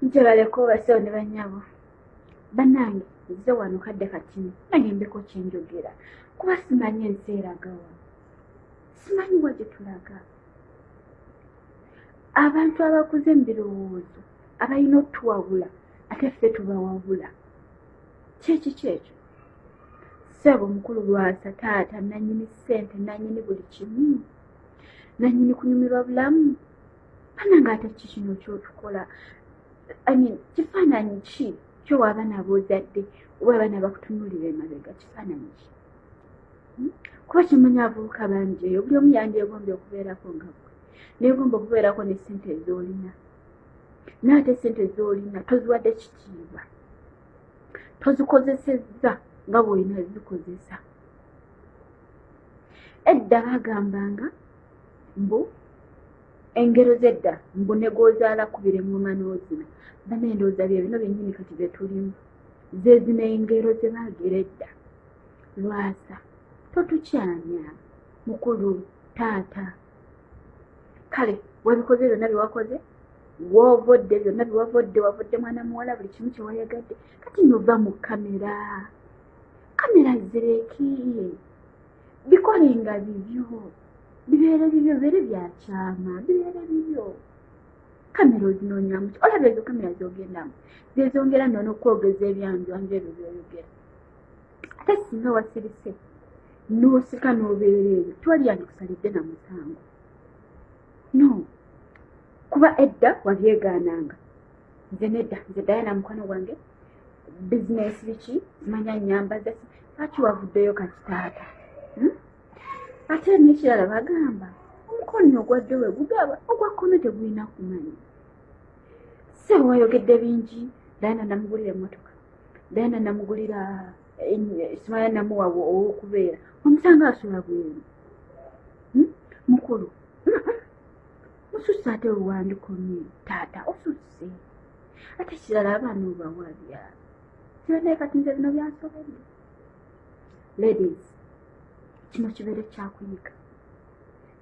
nze baleka obasawo ne banyabo banange nze wano kadde katini naye mbeko kyenjogera kuba simanyi ensi eragawa simanyi wa gye tulaga abantu abakuze mu birowoozo abalina otuwabula ate ffe tubawabula kyeki kyekyo seebo omukulu lwasa taata nanyini ssente nanyini buli kimu nanyini kunyumirwa bulamu banange ate ki kino kyotukola imean kifaananyi ki kyo waabana boozadde oba abaana bakutunulira emabega kifaananyi ki hmm? kuba kimanya avubuka bangi eyo buli omu yandyegombye okubeerako nga gwe negomba okubeerako ne sente ezoolina naate sente ezoolina toziwadde kitiibwa tozikozesezza nga bwolina zikozesa edda bagambanga mbu engero zedda mbu negwozaala kubire ngoma n'ozina bana endowooza bye bino byennyini kati bye tulimu zezina engero ze baagera edda lwasa totukyanya mukulu taata kale webikoze byonna byewakoze wovodde byonna byewavodde wavodde mwana muwala buli kimu kyewayagadde kati nova mu kamera kamera zireki bikolenga bibyo bibeere bibyo bibeere byakyama bibeere bibyo kamera ozinonyamuki olaba ezo kamera zogendamu zezongera nono okwogeza ebyanjwanju ebyo byoyogera ate singa wasirise nosika nobeera ebyo twaliyandikusalidde na musango no kuba edda wabyegaananga nze nedda nze dayana mukwano gwange bizinesi biki manya nyambaza lwaki wavuddeyo kati taata hmm? ate nekirala bagamba omukono ogwadde we gugaba ogwa kkono tegulina kumanya se wayogedde bingi dayana namugulira emotoka dayana namugulira eh, simaya namuwa owokubeera omusanga asula bweru hmm? mukulu mususa ate oluwandikomye taata osusa si ate kirala abaana obawabya kibenaye kati nze bino byansobedde ladies kino kibeere kyakuyiga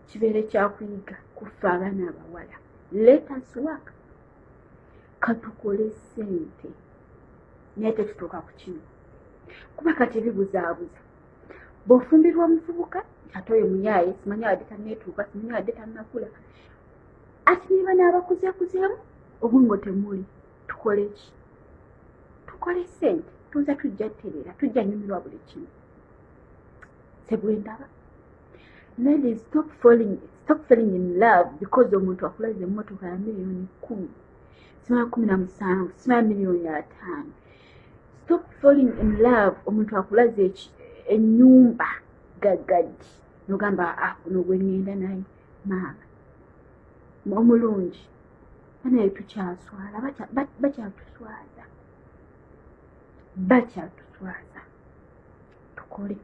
kibeere kyakuyiga kuffe abaana abawala let us work katukole sente naye tetutuuka ku kino kuba kati bibuzaabuza bw'ofumbirwa omuvubuka ate oyo muyaaye simanyi abadde tanneetuuka simanyi abadde tannakula ati niba n'abakuzeekuzeemu obwongo temuli tukole ki tukole sente tuza tujja tereera tujja nyumirwa buli kimu sebwendaba ladies stop falling stop falling in love because omuntu akulaza emmotoka ya miliyoni kumi simaya kumi na musanvu simaya miliyoni ataano stop falling in love omuntu akulaza enyumba gagadi nogamba akuno ah, gwenyenda naye maama omulungi banaye tukyaswala bakyatuswaza bakyatuswaza tukole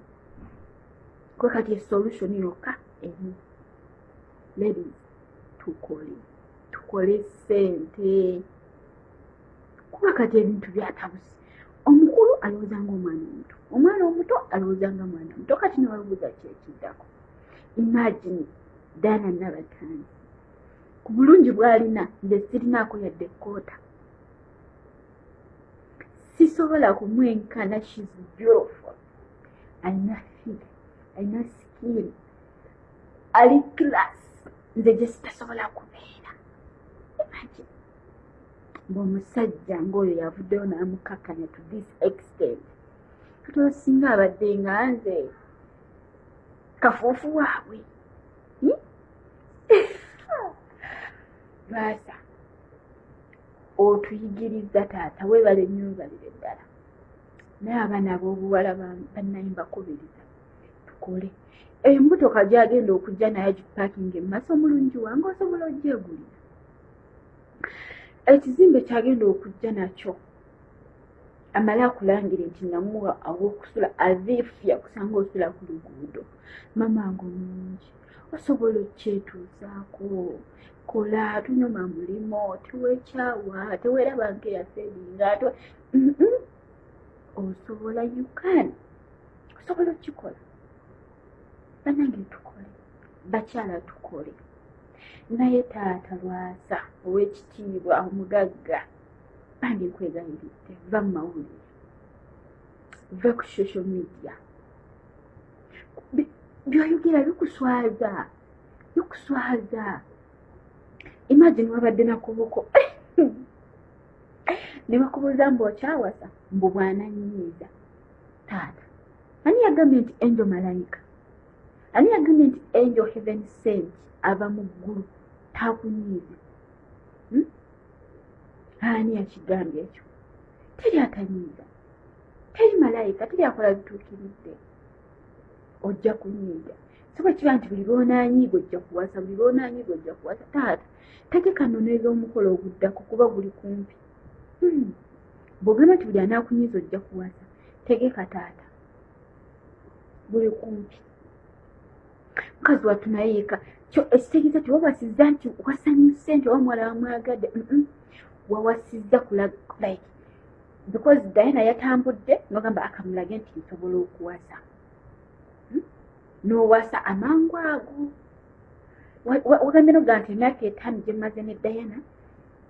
kwe kati esolution yokka emu lady tukole tukole sente kuba kati ebintu byatabusi omukulu alowooza nga omwana omuto omwana omuto alowooza nga mwana omuto kati newabuuza kyekiddako imagine dana nabatanzi ku bulungi bwalina nze sirinaako yadde ekkoota sisobola kumwenkana shes beautiful alina fig alina skin ali class nze gye sitasobola kubeera imagine ngaomusajja ngaoyo yavuddeyo namukakanya to this extent kati osinga abadde nga nze kafuufu waabwe hmm? baasa otuyigiriza taata webale nyumbalire ddala naye abaana abobuwala banayimbakubiriza tukole emotoka gyagenda okujja naye gipakinga emaso omulungi wange osobola ojegulira ekizimbe kyagenda okujja nakyo amale akulangire nti namuwa awokusula athif yakusanga osula ku luguudo mama nga omungi osobola okukyetuuzaako kola tunyuma mulimo tewekyawa teweraba nga eyaferinga t osobola ukan osobola okukikola banange tukole bakyala tukole naye taata lwaza owekitiibwa omugagga bambi nkwegayiridde va mu mawulire va ku social media byoyogera bikuswaza bikuswaza imagine wabadde nakuboko nebakubuuza mbu okyawasa mbu bwananyiiza taata ani yagambye nti angel malayika ani yagambye nti angel heaven sent ava mu ggulu takunyiiza ani yakigambye ekyo teri atanyiiga teri malayika teri akola bituukiridde ojja kunyiiga soba kiba nti buli lwonaanyiiga ojja kuwasa buli lwonaanyiiga ojja kuwasa taata tegeka noneeza omukolo oguddako kuba guli kumpi hmm. bwogamba nti buli anaakunyiiza ojja kuwasa tegeka taata buli kumpi mukazi wattu naye yeka kyo ekitegeeza tewawasizza nti wasanyuse nti oba muwala wamwagadde wawasizza like because diana yatambudde nogamba akamulage nti nsobola okuwasa hmm? nowasa amangu ago wagambye noga nti emyaka etaano gyemaze ne diana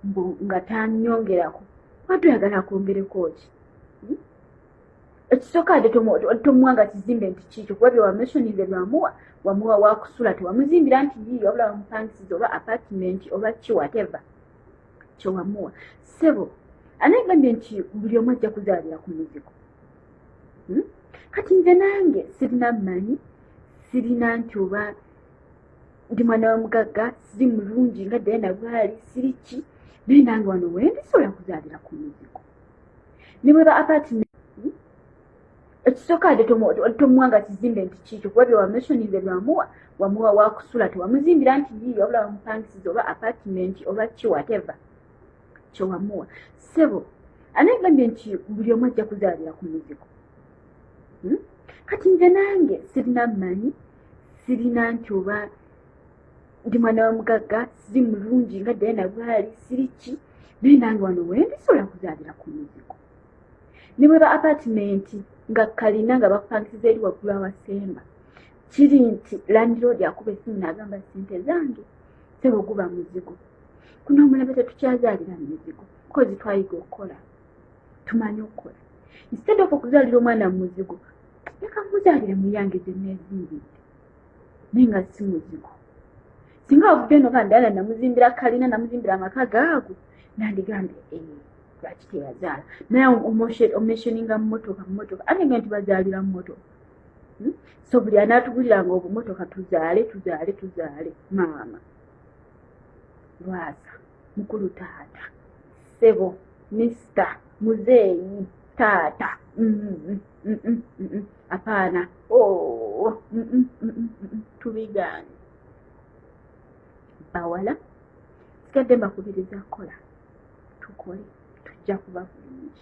mbu nga tanyongerako watu oyagala akwongereko ki hmm? ekisooka ate tomuwa nga kizimbe nti kiikyo kuba byewamesonize lwamuwa wamuwa wakusula tewamuzimbira nti yii wabula wamupangisiza oba apartment oba ki wateva kyewamuwa sebo anegambye nti buli omu ajja kuzaalira ku muzigo hmm? kati nze nange sirina mmanyi sirina nti oba ndi mwana wa mugagga siri mulungi nga dayana bwali siri ki naye nange wano wendi sobola kuzaalira ku muzigo ne bweba apartment ekisooka ade tomuwa nga kizimbe nti kiikyo kuba byewameshoninze byamuwa wamuwa wakusula tewamuzimbira nti yii wabula wamupangisiza oba apartment oba ki whatever kyewamuwa sebo anagambye nti buli omu ajja kuzaalira ku muzigo hmm? kati nze nange sirina manyi sirina nti oba ndi mwana wa mugagga siri mulungi nga diana bwali siri ki naye nange wano wendi sobola kuzaalira ku muzigo ne bweba apatimenti nga kalina nga bakupangisiza eri waggulu awasemba kiri nti landiroodi akuba esimu naagamba sente zange sebo guba muzigo kuno omulembe tetukyazaalira mu mizigo kozi twayiga okukola tumanyi okukola instead of okuzaalira omwana mu muzigo leka muzaalire muyange gye neezimbidde naye nga si muzigo singa wavudde eno ka ndala namuzimbira kalina namuzimbira amaka gaago nandigambye eh, lwaki teyazaala naye omeshoninga mumotoka mumotoka ate nga nti bazaalira mumotoka hmm? so buli anaatuguliranga obumotoka tuzaale tuzaale tuzaale maama lwaza mukulu taata sebo mister muzeeyi taata apaana tubigaani bawala sigadde mbakubiriza kukola tukole tujja kuba bulungi